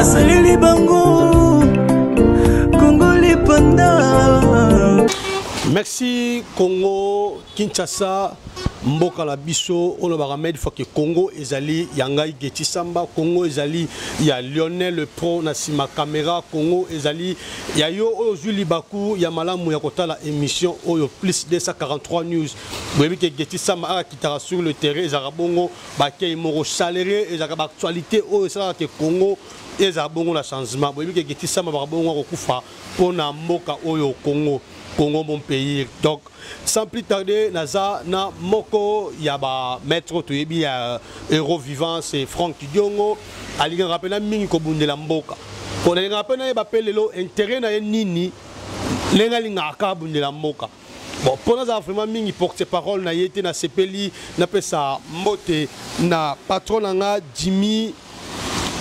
asaleli bango kongo lipanda merci congo kinshasa mboka na biso oyo nabaka made foke congo ezali ya ngai geti samba congo ezali ya lionel pro na nsima camera congo ezali ya yo oyo ozwi libaku ya malamu ya kotala émission oyo plus 243 news boyebi ke geti samba akakitaka sur le terrain ezalaka bongo bakei moko salere ezalaka baactualité oyo esalaka ke congo ezala bongo na changement boyebi ke getisama bakabongo akokufa mpo na mboka oyo congo congo mon pays donc sans plus tarder naza na moko ya bamaître oyo toyebi ya héros vivant c'est frank diongo alingaka mpena mingi kobundela mboka mpo nalingaka mpe nayeba mpe lelo intérêt na ye nini ndenge alingaka kaka abundela mboka Bon, mpo nazala vraiment mingi porte parole na ye te nasepeli napesa mbote na patron na nga jimmy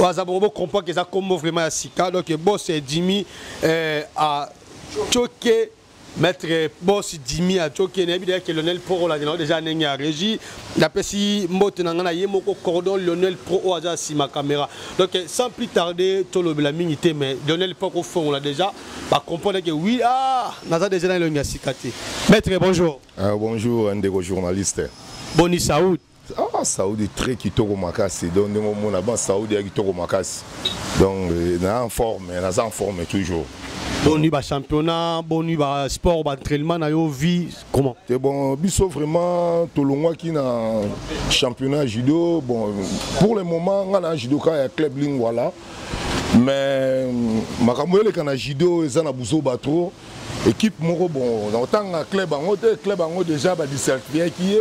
aza bongo bocomprend ke eza nkombo vraiment ya sika donc bos jimmy eh, acoke maître bos jimmy acoke nayebi deya ke lionel pro olandela o deja ndenge ya régie napesi mbote na ngai na ye moko cordon lionel pro oyo aza nsima caméra donc sans plus tarder tolobela mingi te mais lionel pro kofongola deja ba comprendre que oui ah naza déjà na elongi ya sika te maître bonjour ah, bonjour ndeko journaliste boni saoud ah saudi très kitoko makasi donc ndenge omona ban saudi ya kitoko makasi donc euh, na en forme naza en forme toujours boni ba championnat boni ba sport ba entraînement na yo vie comment te bon biso vraiment tolongwaki na championnat judo bon pour le moment nga na judoka ya club lingwala mais makambo eleka na judo eza na buzoba trop équipe moko bon nakotanga club yango te club yango déjà badisertiaki ye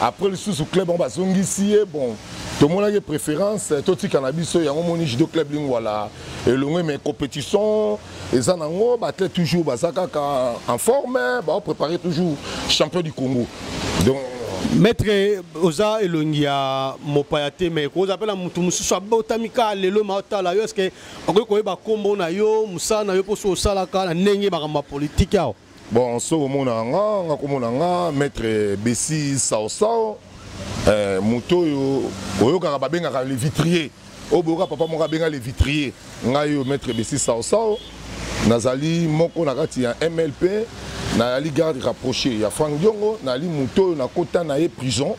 après lisusu club yango bazongisi ye bon tomonaki préférence totika na biso yango moni judo club lingwala elongwe mais compétition eza nango baathlète toujours baza kaka en forme bao prépare toujours champion du congo donc maître oza elongi ya mopaya te mai oza mpe na motu mosusu abotami kaka lelo ma otala yo eske okoki koyeba nkombo na yo mosala na yo mposo osalaka na ndenge makambo ya politike awa bon soki omona nga nga komona nga maître besi saosao eh, moto oyo oyokaka babengaka le vitrier oyo boyoka papa moko abenga le vitrier ngai oyo maître besi saosao nazali moko na kati ya mlp nayali garde rapproché ya frank diongo nayali moto oyo nakota na ye prison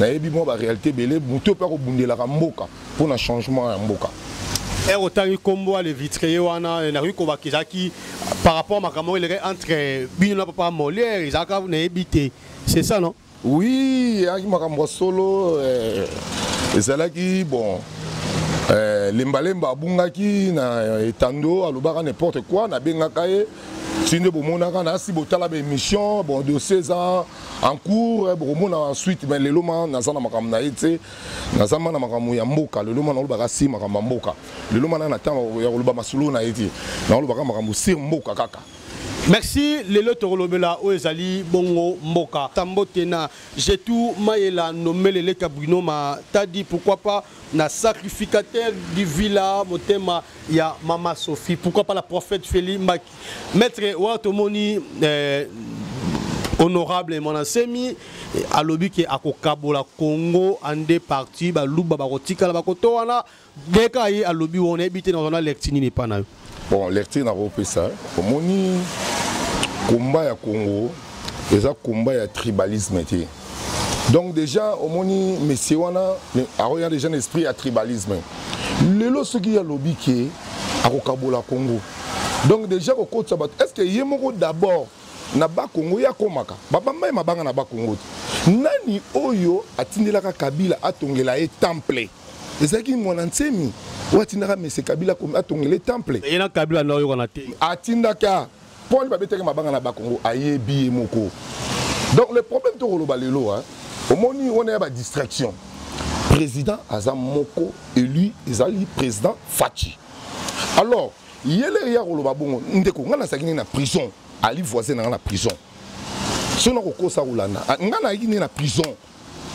nayebi mwa baréalité ebele moto oyo mpe akobundelaka mboka mpo na changement ya mboka ere otangi nkombo ya levitrier wana eh, nakoki kobaka ezalaki par rapport makambo oyo elekaki entre bino na papa molière ezalaka nayebi te c'est ça non oui eyaki makambo ya solo eh, ezalaki bon eh, lembalemba abungaki na etando alobaka n'importe quoi nabengaka ye ti nde bomonaka nasi botala baémission bon dossier eza en cours bokomona suite mais lelo ma naza na makambo na ye te naza mwana makambo ya mboka lelo mwana olobaka si makambo ya mboka lelo mwana na ntango ya koloba masolo na ye te naolobaka makambo sir mboka kaka merci lelo tokolobela oyo ezali bongo mboka tambote na jetu mayela nomele leka bruno matadi pourquoi pas na sacrificateur du villa motema ya mama sophie pourquoi pas la prophète feli mbaki Maître wa tomoni euh, honorable Monasemi alobi ke akokabola Congo en deux parties baluba bakotikala bakoto wana deka ye alobi wana yebi te nazana lecture nini epa na yo bon lecture nakopesa omoni komba ya Congo eza komba ya tribalisme te donc déjà omoni messie wana akoya déjà na esprit ya tribalisme lelo soki alobi ke akokabola congo donc déjà kokotisa bato est ce que ye moko d'abord na bakongo ye akomaka babamba ye mabanga na bakongo te nani oyo atindelaka kabila atongela ye temple ezalaki mwana nsemi oyo atindaka mese kabila atongela ye temple atindaka Paul babetaki mabanga na Bakongo ayebi ye moko. Donc le problème tokoloba lelo hein. Omoni on a ba distraction. Président aza moko élu ezali président Fatshi. Alors yele ya koloba bongo ndeko ngana sakini na prison ali voisin na prison. Sona kokosa kolanda ngana yiki na prison.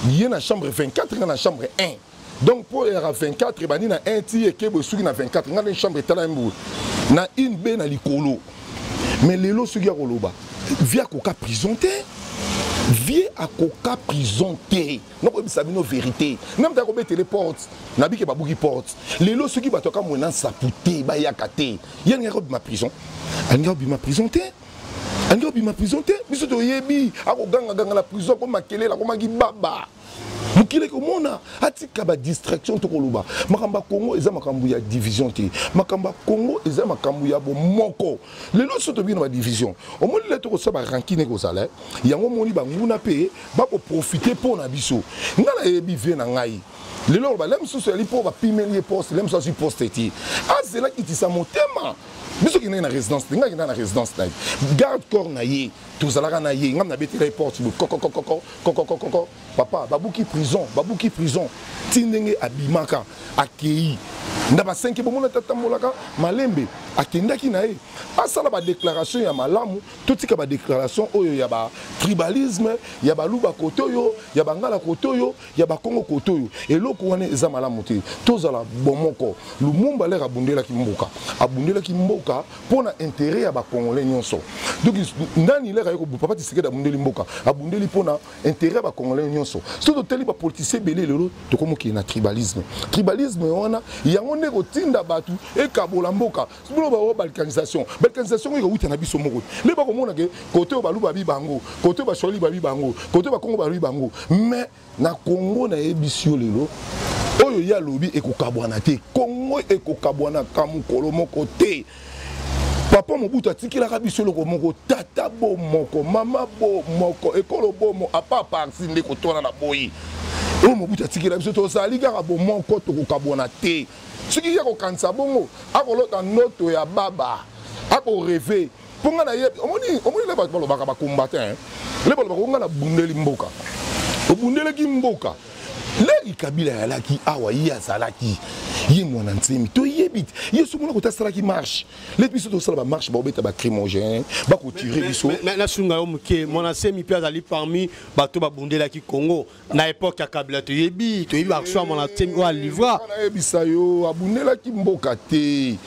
ye na chambre 24 nga na chambre 1 donc mpo eyaka 24 ebandi na 1 ti ekebo esuki na 24 nga na chambre etala mbu na une be na likolo mais lelo soki ya koloba vie akoka prison te vie akoka prison te nakoyebisa bino verité name ta kobetele porte nabike babuki porte lelo soki bato akamwe na nsapu te bayaka te ye alingaki kobima prison alingaki kobima prison te ange obima prison te biso toyebi akogangaganga na prison akoma kelele akomaki baba mokili ekomona atika badistraction tokoloba makambo ya kongo eza makambo ya division te makambo ya kongo eza makambo ya bomoko lelo so tobii na badivision omoni le tokosala barankine ekozala eh? yango omoni banguna mpe bakoprofite mpo na biso ngai nayebi vie na ngai lelo oloba le mosusu yali mpo bapimeli ye poste le mosusu azwi poste te azelaki tisa motema biso kendaki na résidence te ngai kendaka na résidence na ye garde corps na ye tozalaka na ye ngai nabetela ye porte boye kokokokokokokokoko papa babuki prison babuki prison ti ndenge abimaka akei na basenke bomona te atambolaka malembe akendaki na ye asala badéclaration ya malamu totika badéclaration oyo ya batribalisme ya baluba kote oyo ya bangala kote oyo ya bakongo kote oyo eloko wana eza malamu te tozala bomoko lumumba lere abundelaki mboka abundelaki mboka mpo na intere ya bakongole nyonso donc nani lere aye papa tisekedi abundeli mboka abundeli mpo na intere ya bakongole nyonso so totali bapolitisien ebele lelo tokomokili na tribalisme tribalisme wana yango nde kotinda bato ekabola mboka bino baoyo balkanisation balkanisation oyo ekowuta na biso moko nde bakomona ke kote oyo baluba bi bango kote oyo baswali babi bango kote oyo bakongo babi bango mais na kongo nayebisi yo lelo oyo ye alobi ekokabwana te kongo ekokabwanaka mokolo moko te papa mobutu atikelaka biso eloko moko tata bo moko mama bo moko ekolo bomo apa parti nde kotwana na boyi oyo mobutu atikela biso tozali kaka bomoko tokokabwana te soki ye akokanisa bongo akolota ndoto ya baba akoreve mpo ngai nayebi omoni omoni le bato balobaka bacombatin le balobaka ongai nabundeli mboka obundeleki mboka leli kabila yalaki awa ye azalaki ye mwana nsemi toyebi te ye soki mona kota asalaki marche leti biso tosala bamarche baobeta bacrimogène bakotire biso nasunga yo moke mwana nsemi mpe azali parmi bato babundelaki congo na epoque ya kabila toyebi toyebi akswama na temi oyo alivra ayebisa yo abundelaki mboka te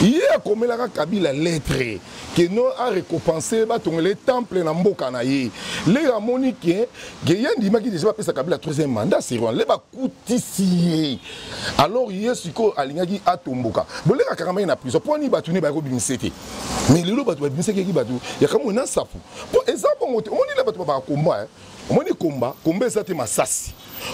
ye akomelaka kabila lettre keno arekompense batongele temple na mboka na ye lelo amoni ke ke ye andimaki deja bapesa kabila troisième mandat sirwan le bakutisi ye alors ye sikoyo alingaki atomboka boleka kakama ye na prison mpo ani bato ne bayaki kobimisa te mais lelo bato babimisaki yaki bato yakamoi na nsapu mpo eza bongo te omoni le bato babaka komba omoni komba komba eza te masasi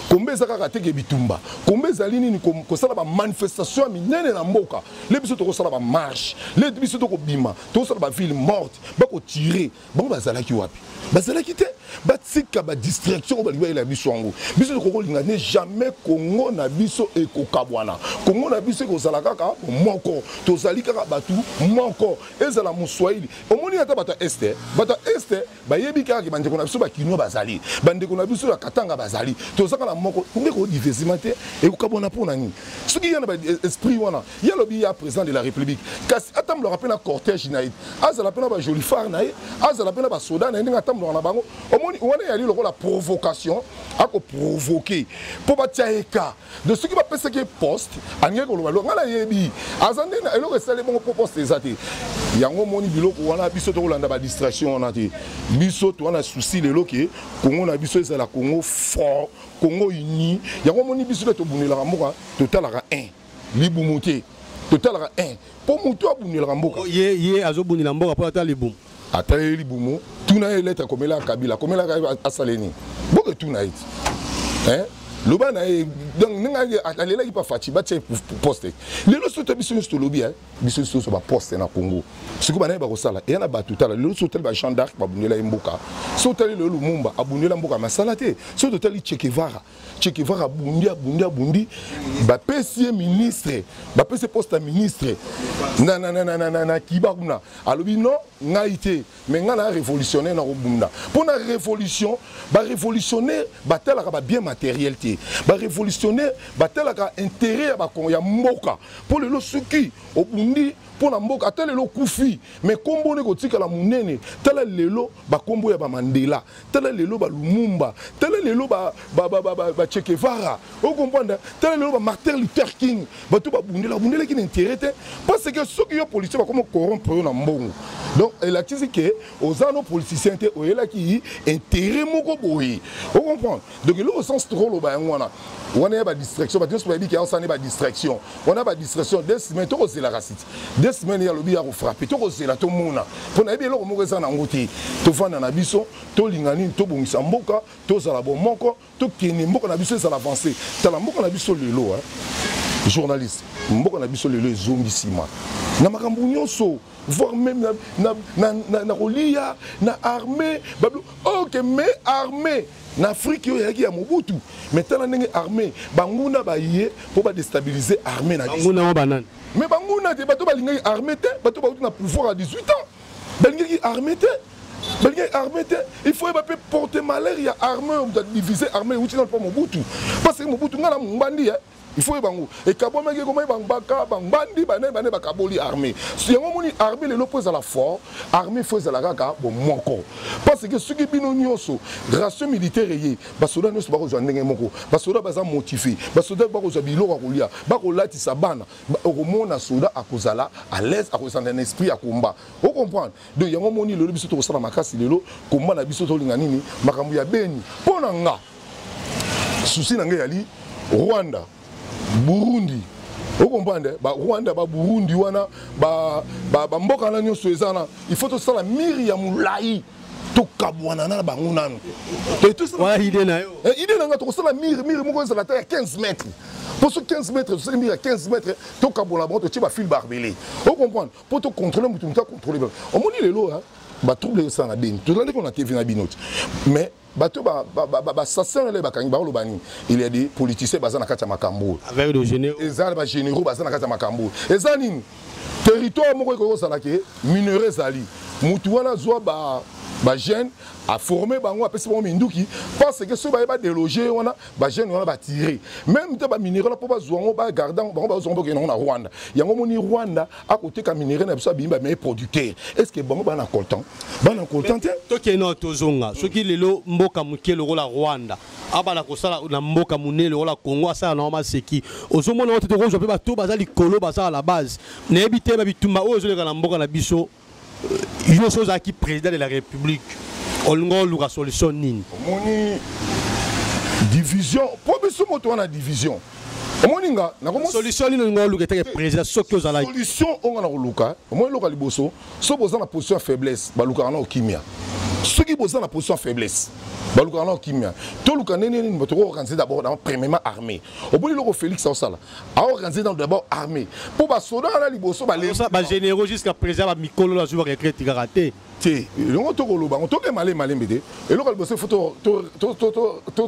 komba eza kaka teke bitumba komba ezali nini kosala bamanifestation ya minene na mboka le biso tokosala bamarche le biso tokobima tokosala baville morte bakotire bango bazalaki wapi bazalaki te batika badistraction oyo balingi bayela biso yango biso tokoki kolinga ne jamais kongo na biso ekokabwana kongo na biso ekozala kaka moko tozali kaka bato moko ezala moswahili omoni ata bato ya este bato ya este bayebi kaka ke bandeko na biso bakinois bazali bandeko na biso ya katanga bazali tozaka na moko ndeko odivesima te ekokabwana mpo na nini soki ya na baesprit wana ye alobi ya président de la république kasi atambolaka mpe na cortège na ye azala mpe na bajolifare na ye azala mpe na basoda na ye ndenge atambolaka na bango omoni wana eyali lokola provocation akoprovoke mpo batya ye ka de soki bapesaki ye poste alingaki koloba eloko ngai nayebi aza nde na eloko esali bongo mpo poste eza te yango omoni biloko wana biso tokolanda badistraction wana te biso toza na souci lelo ke kongo na biso ezala kongo fort kongo uni yango omoni biso nde tobundelaka mboka totalaka 1 libumu te totalaka 1 mpo motu abundelaka mboka ye azobundela mboka mpo ata libumu ata ye libumu tuna ye lete akomela kabila akomelaka asale nini boke tuna ye ti loba na ye donc ndenge alelaki pa faci batya poste lelo soki biso nyonso tolobi eh, biso nyonso tozo baposte na congo soki banaye bakosala eya na bato tala lelo soki otali ba jean d'arc babundela ye mboka soki otali lelo lumumba abundela mboka masala te soki totali chekevara chekevaka abundi abundi abundi bapesi ye ministre bapesi ye poste ya ministre na, na, na, na, na, na, na kiba kuna alobi non ngai te me ngai na révolutionnaire na kobunda mpo na révolution barévolutionnaire batalaka babien matériel te barévolutionnaire batalaka intérêt ya, ba, ya mboka mpo lelo soki obundi mpo na mboka ata lelo okufi me nkombo nde kotikala monene tala lelo bankombo ya bamandela tala lelo ba lumumba tala lelo ba ba ba ba ba, ba Che Guevara o comprendre tala lelo ba Martin Luther King bato babundela babundelaki na intérêt te parce que soki yo policier bakoma corrompre yo na mbongo donc elakisi ke oza no politicien te oyelaki intérêt moko boye o comprendre donc eloko sans trop loba yango wana wana ya badistraction bato nyonso bayebi ke aosala nde badistraction wana ya badistraction de semaine tokozelaka siti de semaine ya lobi ya kofrape tokozela tomona mpo nayebi eloko moko eza na yango te tofanda na biso tolinga nini tobongisa mboka tozala bomoko tokende mboka na biso ezala avance tala mboka na biso lelo journaliste mboka na biso lelo ezongi nsima na makambo nyonso voire même na, na, na, na, na kolia na armée bablo ok mais armée na afrique oyo eyaki ya mobutu mais tala ndenge armée banguna baye mpo badestabilise armée na biso mais banguna te bato balingaki armée te bato bauti na pouvoir ya 18 ans balingaki armée te balingaki armée te il faut yeba mpe porte malheur ya armée oyo moto adivise armée euti nano mpo mobutu parce que mobutu ngai na mombandi il faut oyeba yango ekabwamaki ekomaki bangbaka bangbandi banani banani bakaboli armée yango omoni armée lelo mpo ezala fort armée fo ezala kaka bomoko parce que soki bino nyonso ration militaire eye basoda nyonso bakozwa ndenge moko basoda baza motive basoda bakozwa biloko ya kolia bakolatisa bana okomona soda akozala à l'aise akozala na esprit ya combat ocomprendre donc yango omoni lelo biso tokosala makasi lelo combat na biso tolinga nini makambo ya beni mpo na nga souci na ngai yali rwanda burundi okomprendre eh? barwanda baburundi wana bamboka na nyonso eza wana il faut tosala mire ya molai tokabwana na bango nanu ide na eh, nga tokosala mire mire moko ezala ata ya 15 mètre mpo so 15 mètre tosali mire ya 15 mètre tokabwana bango totie bafile barbele okomprendre mpo tocontrole motu motu acontrole omoni lelo batrouble esala na beni tozali kona tv na bino te mais bato basassana nde bakangi bakoloba nini il ya de politicien baza na kati ya makambo oyo eza bagénéraux baza na kati ya makambo oyo eza nini territoire moko ekoki kozala ke minere ezali motu wana azwa ba bajeune aforme bango apesi bango minduki parce que soki baye badeloge wana bajeune wana batire meme te bamineral mpo bazwa yango bagarde yango bango bazwa yango bakende yango na rwanda yango omoni rwanda akoteka minere na biso abimi bameye producteur est ce que bango bana coltan bana coltan te tokeno tozonga soki lelo mboka moke lokola rwanda abala kosala na mboka monene lokola congo asala na yango maseki ozomona oyo te tokozwa mpe bato baza likolo basala la base nayebi te babitumba oyo ezoleka na mboka na biso yo soki ozalaki président de la république olingi oluka solution nini omoni division mpo biso moto wana division omoni nga solution nini olingi oluka etake président soki ozalaki solution oyo nga na koluka omoni eloka liboso soki boza na position ya faiblesse balukaka nao kimia soki boza na position ya faiblesse balukaka nao kimia toluka ndenge nini bato kokokanisa d'abord na premièrement armée oboni eloko félix aosala aorganize nano d'abord armée mpo basoda wana liboso bagénéraux jusqu'à présent bamikolo nazwi baretraite kaka te te elongo tokoloba yango toke malembe malembe te eloko liboso ifo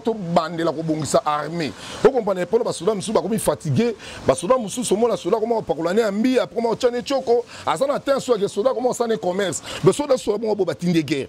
tobandela kobongisa armée okomprendre mpona basoda mosusu bakomi fatigue basoda mosusu omona soda akoma kopakola ne ya mbiya akoma kotya ne tioko aza na te nso yake soda akoma kosala ne commerce basoda soda bongo bo batindi guerre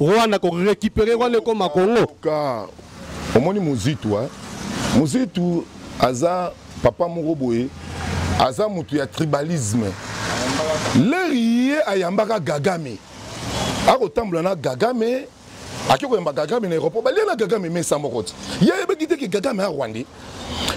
Rwanda ko récupérer Rwanda ekoma Congo. Ka omoni muzitu hein. Muzitu aza papa moko boye aza mutu ya tribalisme. Leri ye ayambaka Kagame. Akotambola na Kagame ake koyamba Kagame na aéroport balia na Kagame mesa moko ti. Ye ayebaki te ke Kagame a Rwandais.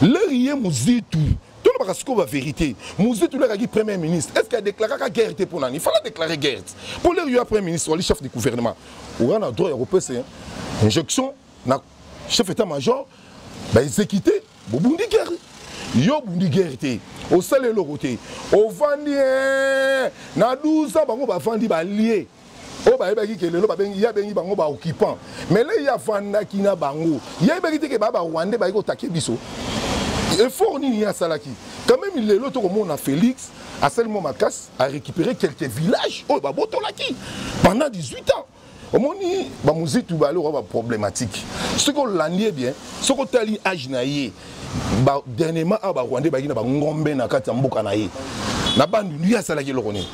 Leri ye muzitu tolobaka sikoyo ba vérité muzi tolakaki premier ministre est ce que adéclaraka guerre te mpo nani fala déclare guerre te mpo lelo yo premier ministre wali chef du gouvernement oza na droit ya kopesa injection na chef état major baexécute bobundi guerre yo obundi guerre te osali eloko te ovandi eh, na 12 ans bango bavandi balie oyo bayebaki ke lelo babengi ye abengi bango baoccupant mais le ye afandaki na bango ye ayebaki te ke baa barwandais bayaki kotake biso effort nini ye asalaki quand même lelo tokomona félix asali mwa makasi arécupéré quelques villages oyo babotolaki pendant 18 ans omoni bamuzitu bale okoa baproblématique soki olandi ye bien soki otali age na ye ba dernièrement awa ba rwandais bayaki na bangombe na kati ya mboka na ye na bandundu ye asalaki eloko nini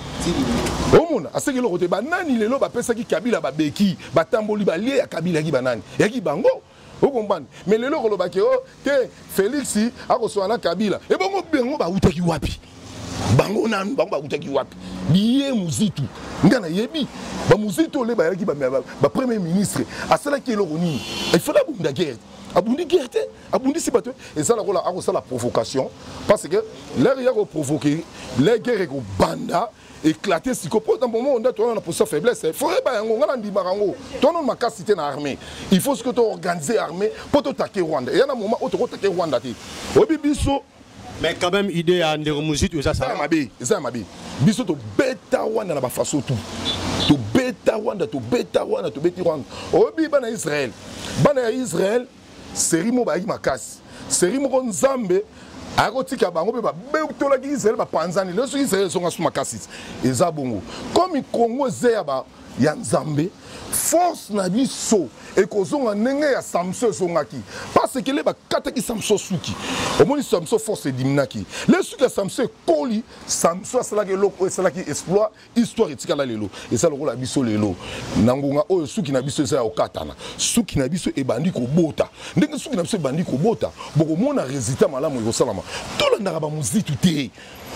omona aseki eloko te banani lelo bapesaki kabila babeki batamboli balie ya kabila yaki banani yaki bango okombani mais lelo koloba ke o oh, te félix akosola na kabila ebongo bango bautaki wapi bango nanu bango bakutaki wapi biye muzitu nga nayebi bamuzitu ole bayaki bapremier ministre asalaki eloko nini efale abunda guerre abundi guerre te abundisi bato eza lokola akosala provocation parce que lere ya koprovoke le guerre ekobanda éclaté siko mpo na momo nda towana na posa faiblesse fo yeba yango ngai nandimaka yango towana makasi te na armée il faut soki toorganize armée mpo totake rwanda eya na moma oyo tokotake rwanda te oyebi biso mais quand même idée ya ndeko mozitu eza sala mabe eza ya mabe biso tobeta rwanda na bafaso tout tobeta rwanda tobeta rwanda tobeti rwanda oyebi bana israel bana ya israel serie moko bayaki makasi serie moko nzambe ayaki kotika bango mpe babetolaki israele bapanzani lelo soki israele ezonga so makasi eza bongo komi kongo eza ya ba ya nzambe force na biso ekozonga ndenge ya samson ezongaki paseke le bakataki samson suki omoni samson force ediminaki le suki ya samson ekoli samson asalaki eloko oyo esalaki exploit histoire etikala lelo eza lokola biso lelo na ngonga oyo suki na biso eza ya kokatana suki na biso ebandi kobota ndenge suki na biso ebandi kobota bokomona resultat malamu ekosalama tolandaka bamuzitu te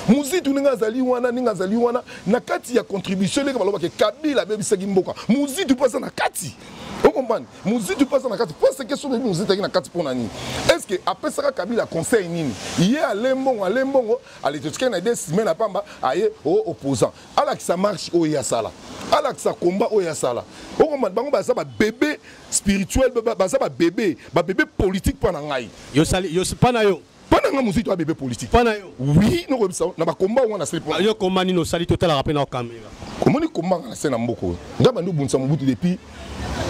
muzitu ndenge azali wana ndenge azali wana na kati ya contribution ndenge balobaka kabila abebisaki mboka muzitu mpe aza na kati okompani muzitu mpe aza na kati parce que soki muzitu azalaki na kati mpo na nini est ce que apesaka kabila conseil nini ye ale mbongo ale mbongo ale totikali na idee sime na pamba aye o oh, opposant alakisa marche oyo ye asala alakisa combat oyo asala okoma bango baza babebe spirituel baza babebe babebe politique mpo na ngai mpo na yo mpo na ngai mozito abebe politique mpo na yo wi nokoyebisa na bakomba wana nasali mpo yo komba nini osali totalaka mpe na kamera omoni komba nga na se na mboka oyo ngai bandi obundisa mobutu depuis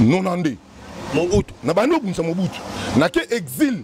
92 mobutu na bandi obundisa mobutu nake exile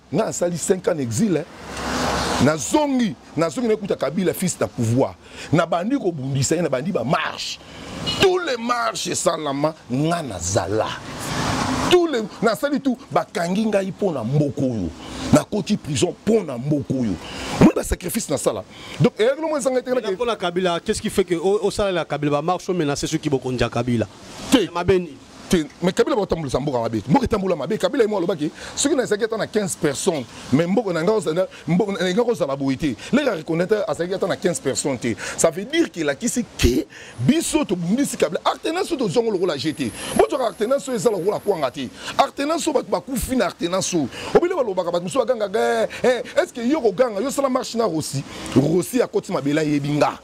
nga asali 5 ans exil eh. nazongi nazongi nakuta kabila fils na pouvoir nabandi kobundisa ye nabandi bamarche tous les marches esalama nga nazala tous les nasali tout bakangi ngai mpo na mboka oyo nakoti prison mpo na mboka oyo omoni basacrifice nasala donc eyakelo mwa ezanga etekelakapona kabila qu'est ce qui fait que osalela kabila bamarche omenase soki bokonzi ya kabila te mabeni te mais kabila bakotambolisa mboka mabe mboka etambola mabe kabila ye moko alobaki soki nazalaki ata na 15 personnes mais mboka na ngai kozala boye te leka reconnaitre azalaki ata na 15 personnes te ça veut dire ke elakisi ke biso tobundisi kabila artenance oyo tozwango lokola je te bozwaka artenance oyo eza lokola kwanga te artenance oyo bato bakufi na artenance oyo obele balobaka bato mosusu bagangaka eh, eh, est ce que yo koganga yo osala marche na rosi rosi akoti mabele ayebi nga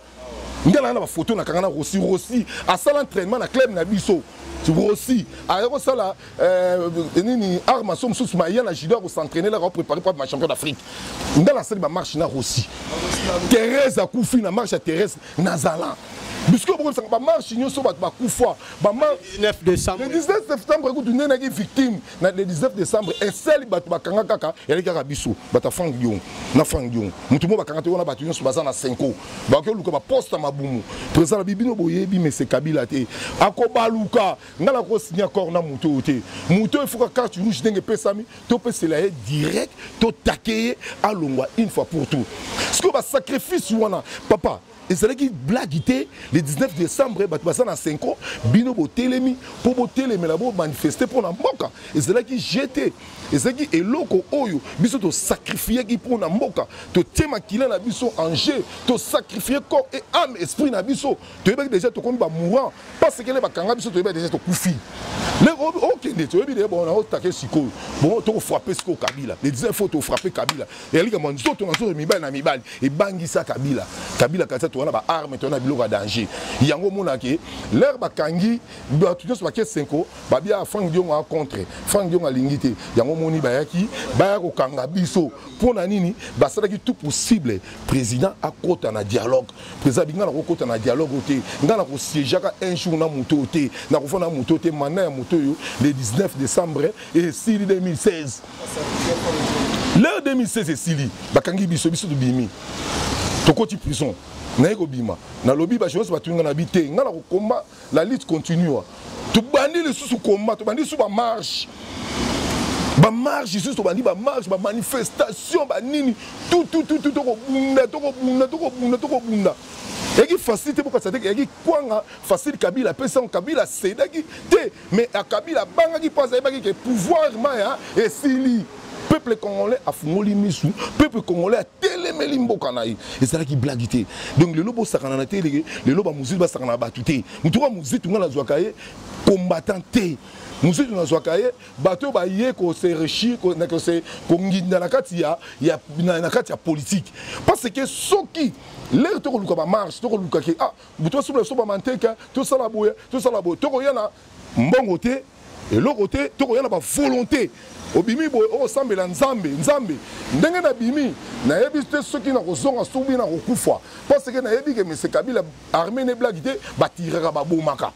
nga na na ba photo na kanga na Rossi Rossi asala entraînement na club na biso Rossi aya kosala euh, nini art maso mosusu maya na judo akosentraîne laka préparé mpo ma champion d'afrique nga nasali bamarche na Rossi Thérèse akufi na marche ya Thérèse nazala bisiko bokobisaka bamarche nyonso bato bakufa le 19 septembre kutu nde naki victime na le 19 décembre eseli bato bakanga kaka yali kaka biso bato ya frank diongo na frank diongo moto moko bakanga te wana bato nyonso baza na senko bakoki oluka baposte ya mabumu président na bibino boyebi mese kabila te akobaluka ngai nakosinya corps na moto oyo te moto oyo efuka carte rouge ndenge epesami topesela ye direct totake ye alongwa une fois pour tout sikoyo basacrifice wana papa ezalaki blague te le 19 décembre bato baza na 5 ans bino botelemi mpo botelemela bomanifeste mpo na mboka ezalaki je te ezalaki eloko oyo biso tosacrifiaki mpo na mboka totie makila na biso en jeu tosacrifie corps et ame esprit na biso toyebaki deja tokomi bamourant pasekele bakanga biso toyebaki deja tokufi okende toyebi de bon naotake sikoyo bon tokofrape sikoyo kabila le 19 fo tofrape kabila ezali likambo ya nzoto na nzoto mibali na mibali ebangisa kabila kabila kasi towana ba arme towana biloko ya danger yango omonake lere bakangi bato nyonso bake senko babia frank diongo a contre frank diongo alingi te yango omoni bayaki baya kokanga biso mpo na nini basalaki tout possible président akota na dialogue président abi ngai nakokota na dialogue te ngai nakosiejaka un jour na moto oyo te nakofana na moto oyo te manda ya moto oyo le 19 décembre esili 2016 leo 2016 esili bakangi biso biso tobimi tokoti prison naye kobima nalobi bajournaliste batuni nga na bi te nga na kokomba la lutte continua tobandi lisusu komba tobandi lisusu bamarche bamarche lisusu tobandi bamarche bamanifestation banini tutututu tokobunda tokobunda tokobunda tokobunda eyaki facile te bokatisa te eyaki kwanga facile kabila apesi yango kabila asedaki te Mais à Kabila abangaki mpo azalaki ke pouvoir maya esili peuple congolais afungoli misu peuple congolais atelemeli mboka na ye ezalaki blagi te donc lelo bosakana na te leke lelo bamozitu basakana na bato te motu oka mozitu ngai nazwaka ye combattant te mozitu nazwaka ye bato oyo baye kose rechir konginda na kati ya, ya, na, na kati ya politike parce que soki lere tokoluka bamarche tokoluka ke ah, tosomba somba manteka tosala boye tosala boye tokoya na mbongo te eloko te tokoya na bavolonté obimi boye okosambela nzambe nzambe ndenge nabimi nayebi te soki nakozonga soki nakokufa parceke nayebi ke mese kabila armée ne blaki te batiraka babomaka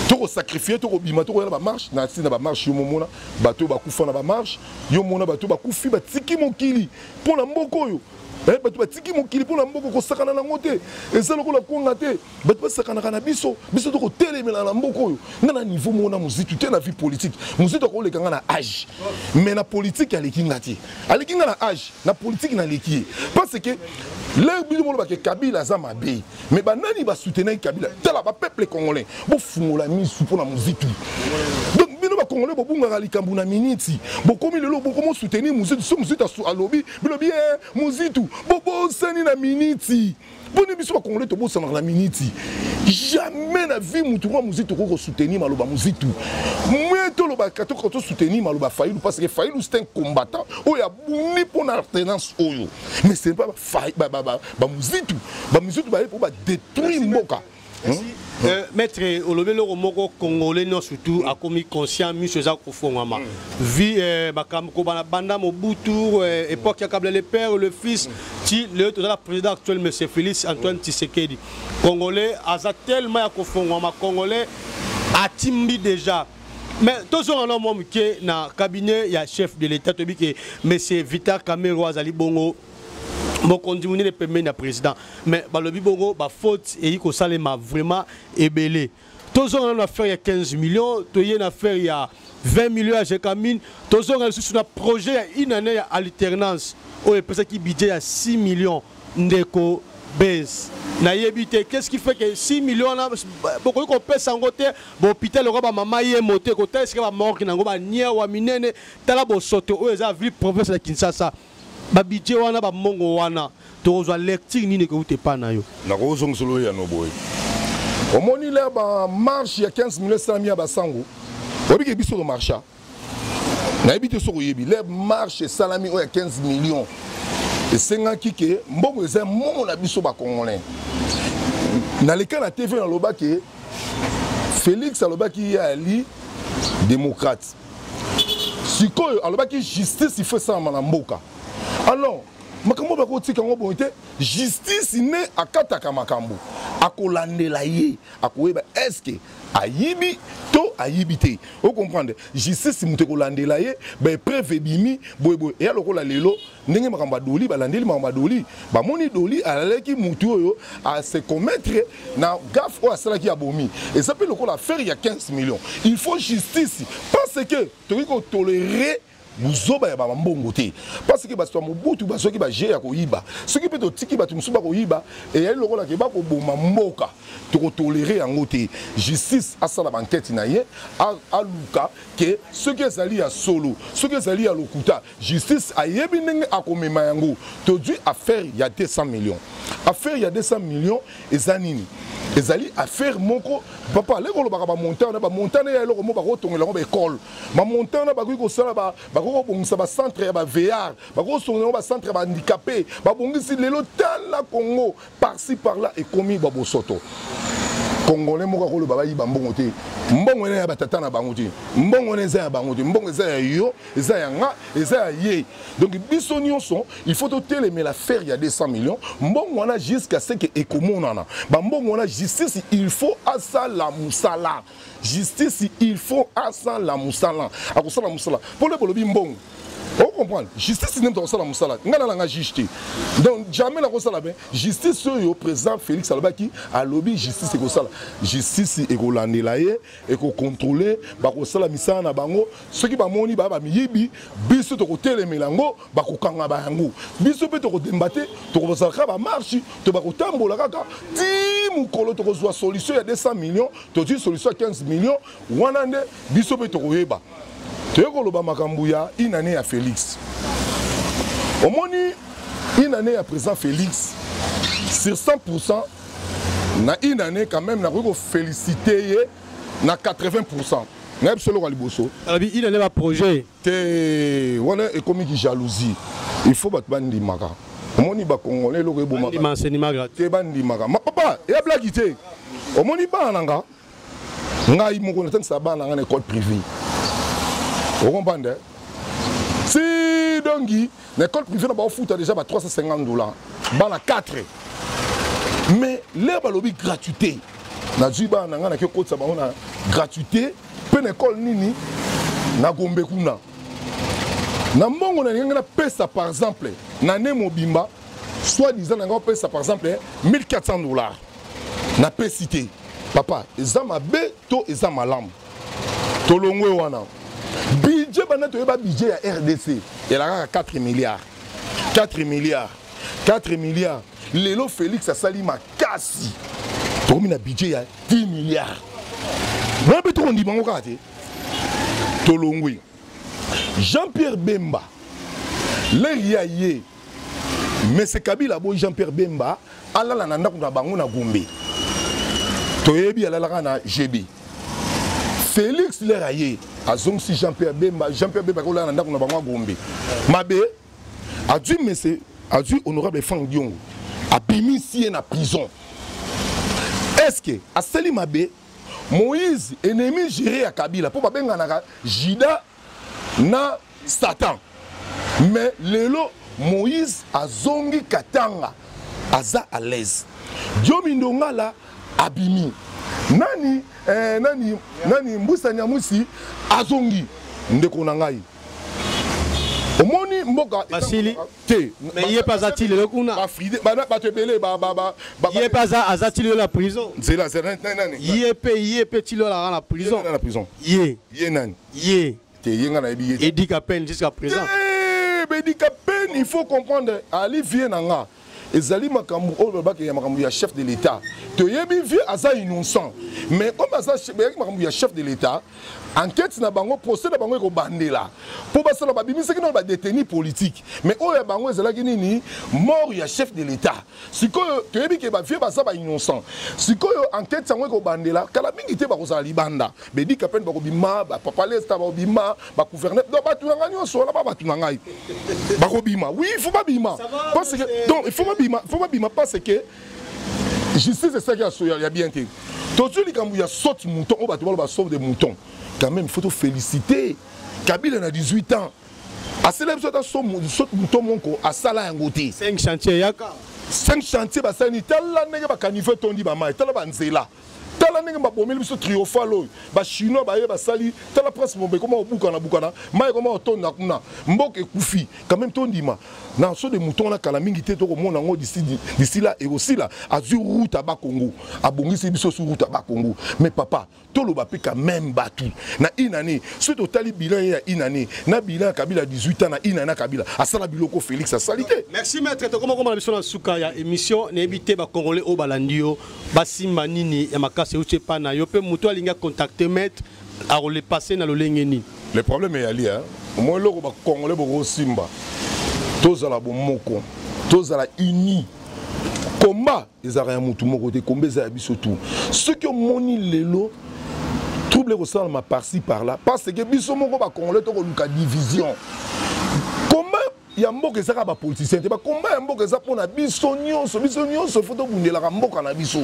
tokosakrifie tokobima tokoya na bamarche na ntina bamarche yo momona bato oyo bakufa na bamarche yo mona bato oyo bakufi batiki mokili mpo na mboka oyo Eh, bato batiki mokili mpo na mboka kosakana nango te eza lokola kwanga te bato basakanaka na biso biso tokotelemela na mboka oyo nga na niveau moko na mozitu te na vie politique mozitu akoleka nga na age mais na politique aleki nga te aleki nga na age na politique naleki ye parce que lere bino molobake kabila aza mabe mais banani basoutenaki kabila tala bapeuple congolais bofungola misu mpo na mozitu donc bino bakongolais bobungaka likambo na miniti bokomi lelo bokomosoutenir mozitu so mozitu alobi bilobi ye eh, muzitu bobosani na miniti boni biso bakongole tobosanaka na miniti jamais na vie mutu mwa muzitu okoki kosoutenir maloba muzitu mwe tolobaka tokoka tosoutenir maloba failu parce que failu c'est un combattant oyo abundi mpo na alternance oyo mais ce n'est pas bamuzitu bamuzitu baye mpo badétruire mboka Merci. Euh, maître olobi eloko moko congolais nyonso tu akomi conscient miso eza kofongwama vi euh, makambo kobana banda mobutu euh, époque ya kabla le père le fils ti lelo toza na président actuel monsieur félix antoine tisekedi congolais aza tellement ya kofongwama congolais atimbi déjà mais tozonga na mwa moke na cabinet ya chef de l'état toyebi ke monsieur vitar camero azali bongo mokonzi monene pembeni na président mais balobi bongo bafaute eyi kosalema vraiment ebele tozonga nano affaire ya 15 millions toye na affaire ya 20 millions ya jecamine tozonga lisusu na projet ya une année ya alternance oyo epesaki budget ya 6 millions ndeko base nayebi te qu'est-ce qui fait que 6 millions wana bokoki kopesa yango te bahôpital yango bamama ye moto ekotala esika bamorke na yango baniawa minene tala bosoto oyo eza ville province ya kinshasa ba budget wana ba mongo wana tokozwa lecture nini ekouta epai na yo nakozongisa olo ya noboye omoni le ba marche ya 15 million esalami ya basango oyebi ke biso tomarcha nayebi te soki oyebi le marche esalami oyo ya 15 million esengaki ke mbongo eza mbongo na biso bacongolais naleka na tv nalobaki felix alobaki ye ali démocrate sikoyo alobaki justice ifo esalama na mboka alors makambo bakotika yango boye te justice nde akataka makambo akolandela ye akoyeba eske ayibi to ayibi te ocomprendre justice moto ekolandela ye baepreuve ebimi boyeboye eya lokola lelo ndenge makambo ya doli balandeli makambo ya doli bamoni doli alalaki motu oyo ase commettre na gaf oyo asalaki ya bomi eza mpe lokola affaire ya 15 millions il faut justice parce que tokoki kotolere buzoba ya bambongo te parce que bato ya mobutu bazwaki baje ya koyiba soki mpe totiki bato mosusu bakoyiba eyali lokola ke bakoboma mboka tokotolere yango te justice asala bankete na ye aluka ke soki ezali ya solo soki ezali ya lokuta Justice ayebi ndenge akomema yango tozwi affaire ya 200 millions affaire ya 200 millions eza nini ezali affaire moko papa aleki kolobaka bamontant wana bamontant nde ya eloko moko bakotongola yango baekole bamontant wana bakoki kosala bakoki kobongisa bacentre ya baveillard bakoki kosongola yango bacentre ya bahandicapé babongisi lelo tala congo par ci par là ekomi ba bosoto congolais moko akoloba bayiba mbongo te mbongo ena ya batata na bango te mbongo ena eza ya bango te mbongo eza ya yo eza ya nga eza ya ye donc biso nyonso il faut totelemela faire ya 200 millions mbongo wana jusqu'à ce que ekomonana bambongo wana justice il faut asala mosala justice il faut asala mosala akosala mosala mpo lebe olobi mbongo ocomprendre justice nde moto akosala mosala te ngai nalanga juge te donc jamais nakosala bien justice oyo président félix alobaki alobi justice ekosala justice ekolandela ye ekocontrôle bakosala misala na bango soki bamoni baya bamiyibi biso tokotelemela yango bakokanga ba yango biso mpe tokodemba te tokozala kaka bamarshe to bakotambola kaka ti mokolo tokozwa solution ya 200 million tozwi solution ya 15 million wana nde biso mpe tokoyeba toye koloba makambo ya inane ya félix omoni inane ya président félix sur 100 pourcent na inane quand même nakoki kofélicite ye na 80 pourcent nayebi solo kwa liboso alobi ina nde baprojet te wana ekomi ki jalousie il faut bato bandimaka omoni bakongole eloko ebomaka te bandimaka mapapa eya blaki te omoni bana na nga ngai moko natangisa bana na nga na ekole privé okompande si donki na école privée na bango futa déjà ba 350 dollars bana 4 mais lere balobi gratuité nazwi bana na ngai nake okotisa bango na gratuité mpe na ekole nini na gombe kuna na mbongo na ndenge napesa par exemple na ne mobimba soit disant na ngai opesa par exemple 1400 dollars napesi te papa eza mabe to eza malamu tolongwe wana budget banda toyeba budget ya rdc elakaka 4 milliards 4 milliards 4 milliards lelo félix asali makasi tokomi na budget ya 10 milliards wana mpe tokondima yango kaka te tolongwe jean pierre bemba lere ya ye mese kabila boyi jean pierre bemba alala na ndako na bango na gombe toyebi alalaka na jebi félix lere ya ye azongisi jean pierre bemba jean pierre bemba akolala na ndako na bango ya gombe mabe azwi mese azwi honorable frank diongo abimisi ye na prison est ce que asali mabe Moïse ennemi jure ya Kabila mpo babenganaka Judas na Satan. Mais lelo Moïse azongi Katanga aza à l'aise. Diomi Ndongala abimi. Nani eh, nani nani Mbusa Nyamwisi azongi ndeko na ngai. Omoni mboka basili te mais ye pe aza ti lelo kuna bafride bana bato ebele ye pe aza aza ti lelo na prison nzela nani ye pe ye pe ti lelo alaka na prison na prison ye ye nani ye te ye nga nayebi ye edi kapene jusqu'à présent edi kapene il faut comprendre ali vie na nga ezali makambo oyo balobaka ya makambo ya chef de l'état toyebi vie aza innocent mais comme aza makambo ya chef de l'état enquête na bango procès na bango ekobandela mpo basala babimisaki nano badeteni politique mais oyo ya bango ezalaki nini mort ya chef de l'état sikoyo toyebi ke bavie baza bainnocent sikoyo enquête yango ekobandela kala mingi te bakozala libanda bedika pene bakobima bapapa lesta bakobima bagouverneur donc bato na ngai nyonso wana ba bato na ngai bakobima oui il faut babima parce que donc il faut babima il faut babima parce que justice esalaki ya, ya, ya bien te tozwi likambo ya saute mouton oyo bato baloba sauve de mouton quand même faut tofélicite kabila na 18 ans asala biso ata saute mouton moko asala yango te 5 chantier yaka 5 chantier basali tala ndenge bakanive etondi bamai tala banzela tala ndenge babomeli biso triomphal oyo bachinois baye basali tala prince mombe ekoma kobukana bukana mai ekoma kotonda kuna mboka ekufi quand même tondima na so de mouton wana kala mingi te tokomona yango disi la ekosila azwi route aba congo abongisi biso su route aba congo mais papa toloba mpe quand même bato na une année soki totali bilan ye ya une année na bilan ya kabila 18 ans na une année ya kabila asala biloko félix asali te merci maître tokomakoma na biso na suka ya émission nayebi te bacongolais oyo balandi yo basimba nini ya makasi euti epai na yo mpe moto alingi akontakte maître akolepasse na lolenge nini le problème eyali omoi eloko bakongole bokosimba tozala bomoko tozala uni komba ezalaka ya motu moko te komba eza ya biso tu soki omoni lelo trouble ekosalama parci par là parce que biso moko bakongole tokoluka division ya mboka eza kaka bapoliticien te bakomba ya mboka eza mpo na biso nyonso biso nyonso ifo tobundelaka mboka na biso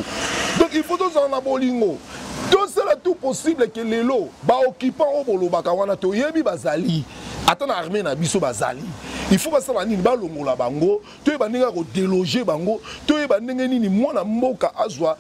donc ifo tozala na bolingo tosala tout possible ke lelo baoccupant oyo bolobaka wana toyebi bazali ata na armée na biso bazali il faut basala nini balongola bango toyeba ndenge ya kodeloge bango toyeba ndenge nini mwana mboka azwa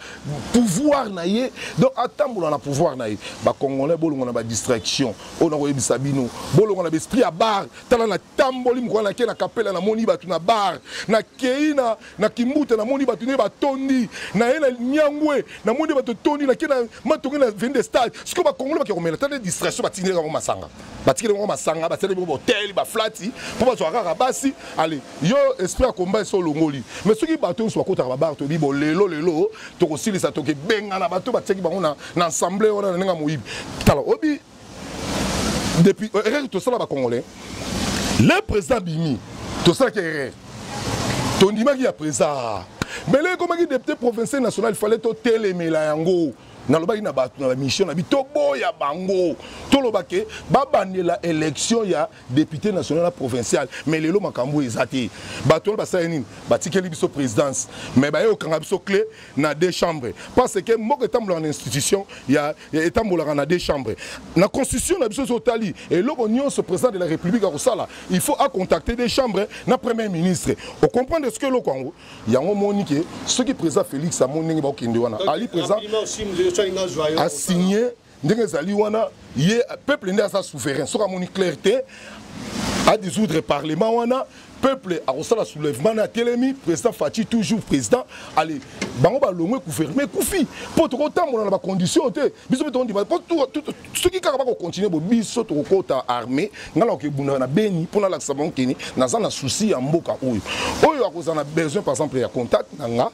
pouvoir na ye donc atambola na pouvoir na ye bacongolais bolongola na badistraction oyo nakoyebisa bino bolongola na baesprit ya bar tala natamboli mokolo nake na kapela namoni bato na bar nakei na, na kimbuta namoni bato nde batondi naye na nyangwe namoni bato tondi nake na matonge na veni de stade sikoyo bakongolo bake komela tala distraction batikeli yango masanga batikeli yango masanga basali bango bahotel baflati mpo bazwaka kaka basi ale yo esprit ya komba esi olongoli mais soki bato nyonso bakotaka babar toyebi bo lelo lelo tokosilisa tokebengana bato batiaki bango na, na ensemble wana na ndenge ya moyibi tala obi depuis euh, erreur tosala ba congolais le président bimi tosalaki erreur tondimaki ya président mais le ekomaki député provincial national fallait totelemela yango nalobaki na bato na bamission na bi toboya bango toloba ke babandela élection ya depute national na provincial mais lelo makambo oyo eza te bato wana basala nini batikeli biso présidence mais baye kokanga biso clé na deux chambres parce que mboka etambolaka na institution ya etambolaka na deux chambres na constitution na biso soki otali eloko nyonso président de la république akosala il faut acontacter deux chambres na premier ministre ocomprendre soki eloko yango yango omoni ke soki président félix amoni ndenge bakokende wana ali président asigne ndenge ezali wana ye peuple nde aza souverain soki amoni claire te adissoudre parlement wana peuple akosala soulèvement na atelemi président faci toujours président ale bango balongwe gouvernement ekufi mpo tokotambola na bacondition te biso mpe tokondima mpo soki kaka bakocontinue bo biso tokokota armée ngai nakokebundaka na beni mpo nalakisa bango keni naza na souci ya mboka oyo oyo akozala na besoin par exemple ya contact na nga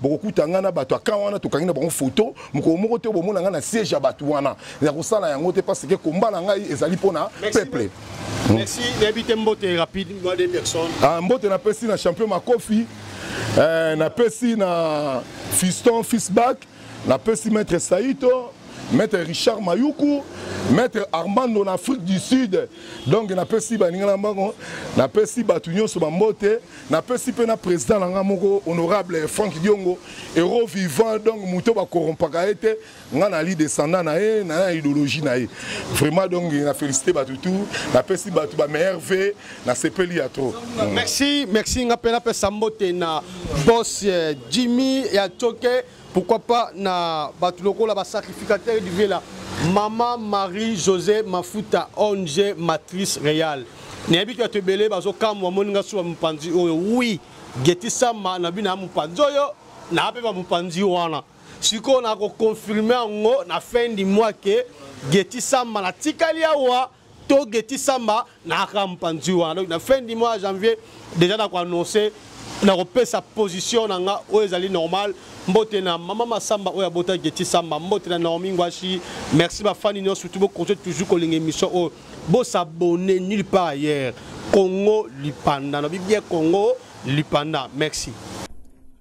bokokuta ngai na bato ya kan wana tokangi na bango foto mokolo moko te bomona ngai na siège ya bato wana ya kosala yango te parce que komba na ngai ezali mpo na peuple hmm. Merci, nayebi te mbote rapide mwa de personnes. Ah, mbote napesi na champion makofi eh, napesi na fiston fisback napesi maître saito maître richard mayuku maître armando na afrique du sud donc napesi baninga na bango napesi bato nyonso bambote napesi mpe na président na ngai moko honorable frank diongo euro vivant donc moto bakorompaka ye te ngai nali descendant na ye na ya idéologie na ye vraiment donc na félicité bato tout napesi bato bameilleur v nasepeli ya trop merci merci ngai mpe napesa mbote na bos eh, jimmy ya coke pourquoi pas na bato lokola basacrificateur du vieux la mama marie josé mafuta ong matrice real nayebi to bato ebele bazokamwa amoni nga suba mopanzi oyo wi geti sama na bino ya mopanzi oyo naa mpe bamopanzi wana sikoyo nakoconfirme yango na fin du mois ke geti sama natikali awa to geti samba nayaka mpanzi wana na fin du mois janvier déjà nakoannonce nakopesa position na nga oyo ezali normal mbote na mama masamba oyo abota geti samba mbote na naomi ngwashi merci bafani nyonso surtout bokontinue toujours kolinga émission oyo bosabone nulle part ailleurs congo lipanda na bibie congo lipanda merci